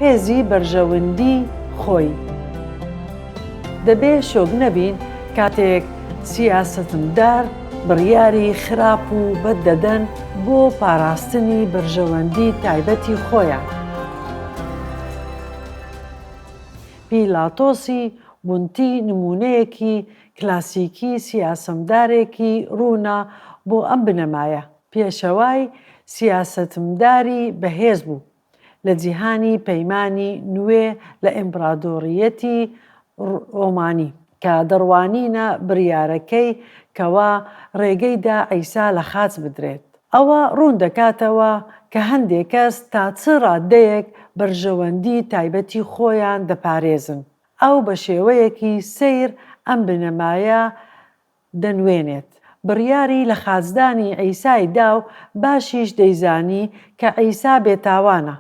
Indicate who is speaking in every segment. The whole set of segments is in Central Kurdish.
Speaker 1: هێزی بەرژەوندی خۆی دەبێ شۆک نەبین کاتێک سیاسەتمدار بڕیاری خراپ و بەد دەدەن بۆ پاراستنی بەرژەوەندی تایبەتی خۆیان. پیلاتۆسی بونتی نموونەیەکی کلاسیکی سیاسەمدارێکی ڕوونە بۆ ئەم بنەمایە. پێشەوای سیاسەتمداری بەهێز بوو لە جیهانی پەیمانی نوێ لە ئیمپڕادۆڕییەتی ڕۆمانی، کە دەڕوانینە بڕیارەکەی کەوا ڕێگەی دا عیسا لە خاچ بدرێت. ئەوە ڕوون دەکاتەوە کە هەندێک کەس تا چ ڕاددەیەک بەرژەوەندی تایبەتی خۆیان دەپارێزن. ئەو بە شێوەیەکی سەیر ئەم بنەمایە دەنوێنێت، بڕیاری لە خاچدانی عیسای دا و باشیش دەیزانی کە عیسا بێتاوانە،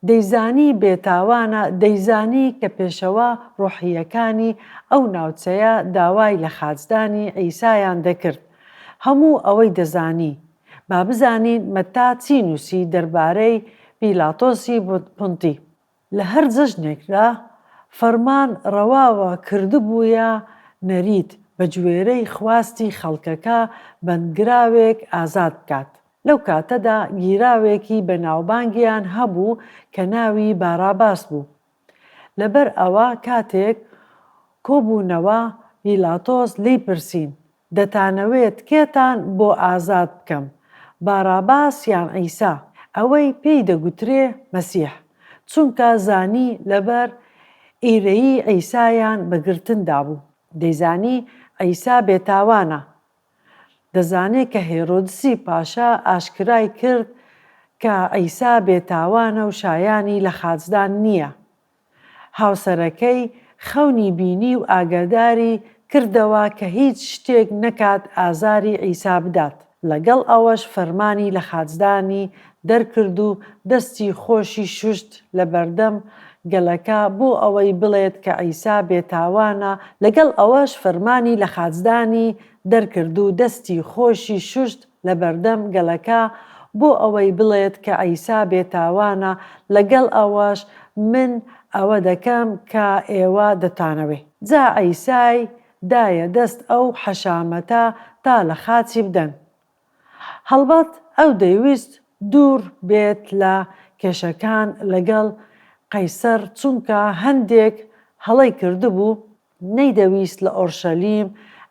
Speaker 1: دەیزانی بێتاوانە، دەیزانی کە پێشەوا ڕۆحییەکانی ئەو ناوچەیە داوای لە خاچدانی عیسایان دەکرد. هەموو ئەوەی دەزانی. با بزانین مەتا چی نووسی دەربارەی پیلاتۆسی پونتی. لە هەر جەژنێکدا فەرمان ڕەواوە کردبوویە نەریت بە گوێرەی خواستی خەڵکەکە بەندکراوێک ئازاد بکات. لەو کاتەدا گیراوێکی بە ناوبانگیان هەبوو کە ناوی باراباس بوو. لەبەر ئەوە کاتێک کۆبوونەوە بیلاتۆس لێی پرسین، دەتانەوێت کێتان بۆ ئازاد بکەم، باڕاباس یان عیسا، ئەوەی پێی دەگوترێ مەسیح، چونکە زانی لەبەر ئیرەیی عیسایان بە گرتن دابوو، دەیزانی عیسا بێتاوانە، دەزانێ کە هێرۆدسی پاشا ئاشکرای کرد کە عیسا بێتاوانە و شایانی لە خاچدان نییە، هاوسەرەکەی خەونی بینی و ئاگاداری کردەوە کە هیچ شتێک نەکات ئازاری عیسا بدات، لەگەڵ ئەوەش فەرمانی لە خاچدانی دەرکرد و دەستی خۆشی شوشت لەبەردەم گەلەکە بۆ ئەوەی بڵێت کە عیسا بێتاوانە لەگەڵ ئەوەش فەرمانی لە خاچدانی دەرکرد و دەستی خۆشی شوشت لەبەردەم گەلەکە بۆ ئەوەی بڵێت کە عیسا بێتاوانە، لەگەڵ ئەوەش من ئەوە دەکەم کە ئێوە دەتانەوێ. جا عیسای دایە دەست ئەو حەشامەتە تا لە خاچی بدەن. هەڵبەت ئەو دەیویست دوور بێت لە کێشەکان لەگەڵ قەیسەر چونکە هەندێک هەڵەی کردبوو، نەیدەویست لە ئۆرشەلیم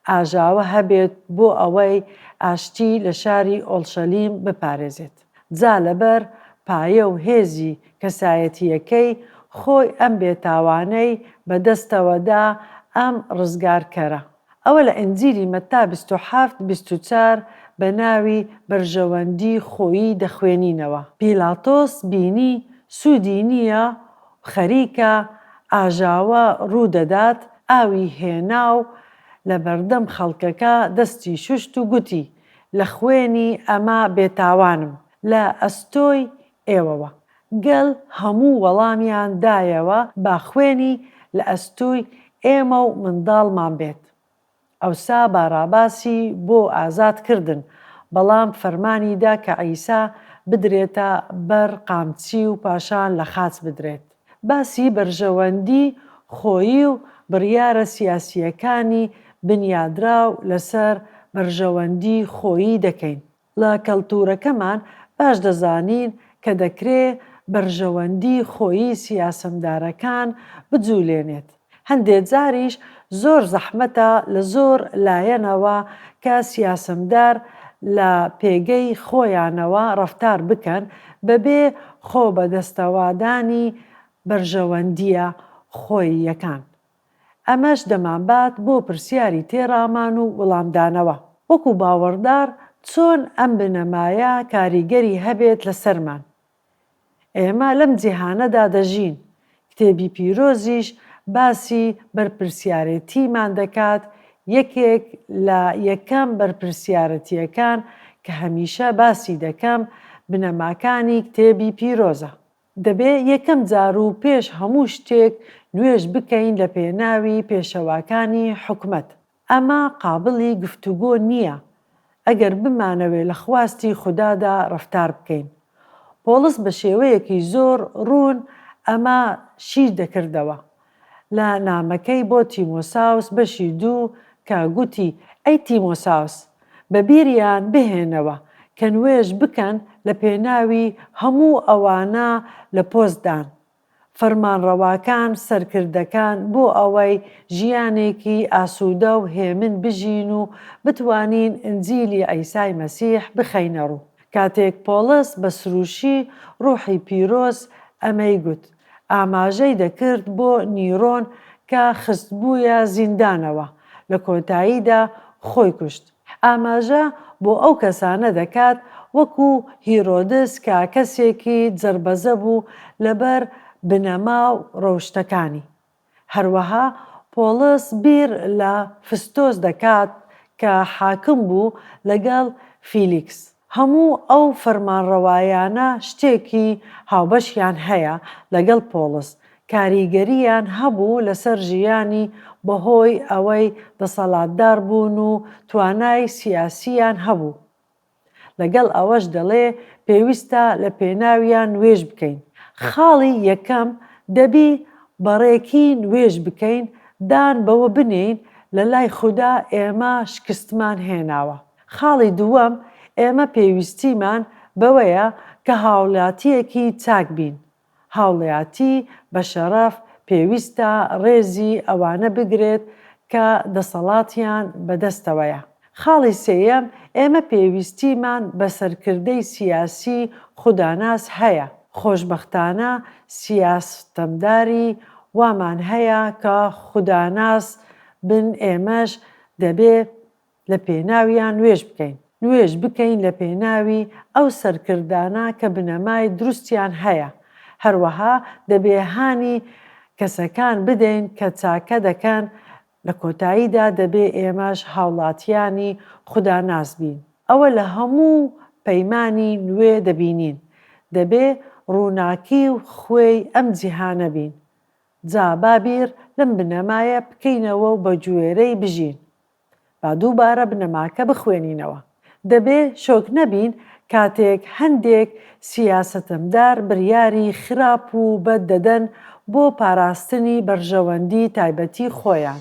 Speaker 1: ئاژاوە هەبێت بۆ ئەوەی ئاشتی لە شاری ئۆڵشەلیم بپارێزێت، جا لەبەر پایە و هێزی کەسایەتییەکەی خۆی ئەم بێتاوانەی بە دەستەوە دا، ئەم ڕزگارکەرە. ئەوە لە ئینجیلی مەتا بیست و حەفت بیست و چوار بە ناوی بەرژەوەندی خۆیی دەخوێنینەوە. پیلاتۆس بینی سوودی نییە خەریکە ئاژاوە ڕوو دەدات، ئاوی هێنا و لە بەردەم خەڵکەکە دەستی شوشت و گوتی، لە خوێنی ئەمە بێتاوانم، لە ئەستۆی ئێوەوە. گەل هەموو وەڵامیان دایەوە با خوێنی لە ئەستووی ئێمە و منداڵمان بێت. ئەوسا باراباسی بۆ ئازاد کردن، بەڵام فەرمانی دا کە عیسا بدرێتە بەر قامچی و پاشان لە خاچ بدرێت. باسی بەرژەوەندی خۆیی و بڕیارە سیاسییەکانی بنیادراو لەسەر بەرژەوەندی خۆیی دەکەین. لە کەلتوورەکەمان باش دەزانین کە دەکرێ بەرژەوەندی خۆیی سیاسەمدارەکان بجوولێنێت، هەندێ جاریش زۆر زەحمەتە لە زۆر لایەنەوە کە سیاسەمدار لە پێگەی خۆیانەوە ڕەفتار بکەن بە بێ خۆبەدەستەوادانی بەرژەوەندییە خۆییەکان. ئەمەش دەمانبات بۆ پرسیاری تێڕامان و وڵامدانەوە، وەکو باوەڕدار چۆن ئەم بنەمایە کاریگەری هەبێت لەسەرمان؟ ئێمە لەم جیهانەدا دەژین، کتێبی پیرۆزیش باسی بەرپرسیارێتیمان دەکات، یەکێک لە یەکەم بەرپرسیارەتییەکان کە هەمیشە باسی دەکەم بنەماکانی کتێبی پیرۆزە. دەبێ یەکەم جار و پێش هەموو شتێک نوێژ بکەین لە پێناوی پێشەواکانی حکومەت، ئەمە قابڵی گفتوگۆ نییە ئەگەر بمانەوێ لە خواستی خودادا ڕەفتار بکەین. پۆڵس بە شێوەیەکی زۆر ڕوون ئەمە شی دەکردەوە. لە نامەکەی بۆ تیمۆساوس بەشی دوو کە گوتی، ئەی تیمۆساوس، بە بیریان بهێنەوە کە نوێژ بکەن لە پێناوی هەموو ئەوانە لە پۆست دان، فەرمانڕەواکان، سەرکردەکان، بۆ ئەوەی ژیانێکی ئاسوودە و هێمن بژین و بتوانین ئنجیلی عیسای مەسیح بخەینە ڕوو. کاتێک پۆڵس بە سرووشی ڕووحی پیرۆز ئەمەی گوت، ئاماژەی دەکرد بۆ نیرۆن کە خستبوویە زیندانەوە، لە کۆتاییدا خۆی کوشت. ئاماژە بۆ ئەو کەسانە دەکات وەکو هیرۆدس کە کەسێکی جڕبەجە بوو لەبەر بنەما و ڕەوشتەکانی. هەروەها پۆڵس بیر لە فستۆس دەکات کە حاکم بوو لەگەڵ فیلیکس. هەموو ئەو فەرمانڕەوایانە شتێکی هاوبەشیان هەیە لەگەڵ پۆڵس، کاریگەرییان هەبوو لەسەر ژیانی بەهۆی ئەوەی دەسەڵاتدار بوون و توانای سیاسییان هەبوو. لەگەڵ ئەوەش دەڵێ پێویستە لە پێناویا نوێژ بکەین، خاڵی یەکەم دەبی بە ڕێکی نوێژ بکەین دان بەوە بنێین لە لای خودا ئێمە شکستمان هێناوە، خاڵی دووەم ئێمە پێویستیمان بەوەیە کە هاوڵاتیەکی چاک بین، هاوڵیاتی بە شەڕەف پێویستە ڕێزی ئەوانە بگرێت کە دەسەڵاتیان بە دەستەوەیە. خاڵی سێیەم، ئێمە پێویستیمان بە سەرکردەی سیاسی خوداناس هەیە. خۆشبەختانە سیاستمداری وامان هەیە کە خوداناس بن ئێمەش دەبێ لە پێناویان نوێژ بکەین. نوێژ بکەین لە پێناوی ئەو سەرکردانە کە بنەمای دروستیان هەیە. هەروەها دەبێ هانی کەسەکان بدەین کە چاکە دەکەن، لە کۆتاییدا دەبێ ئێمەش هاوڵاتیانی خوداناس بین. ئەوە لە هەموو پەیمانی نوێ دەبینین. دەبێ ڕووناکی و خوێی ئەم جیهانە بین. جا با بیر لەم بنەمایە بکەینەوە و بە گوێرەی بژین. با دووبارە بنەماکە بخوێنینەوە. دەبێ شۆک نەبین کاتێک هەندێک سیاسەتمدار بریاری خراپ و بەد دەدەن بۆ پاراستنی بەرژەوەندی تایبەتی خۆیان.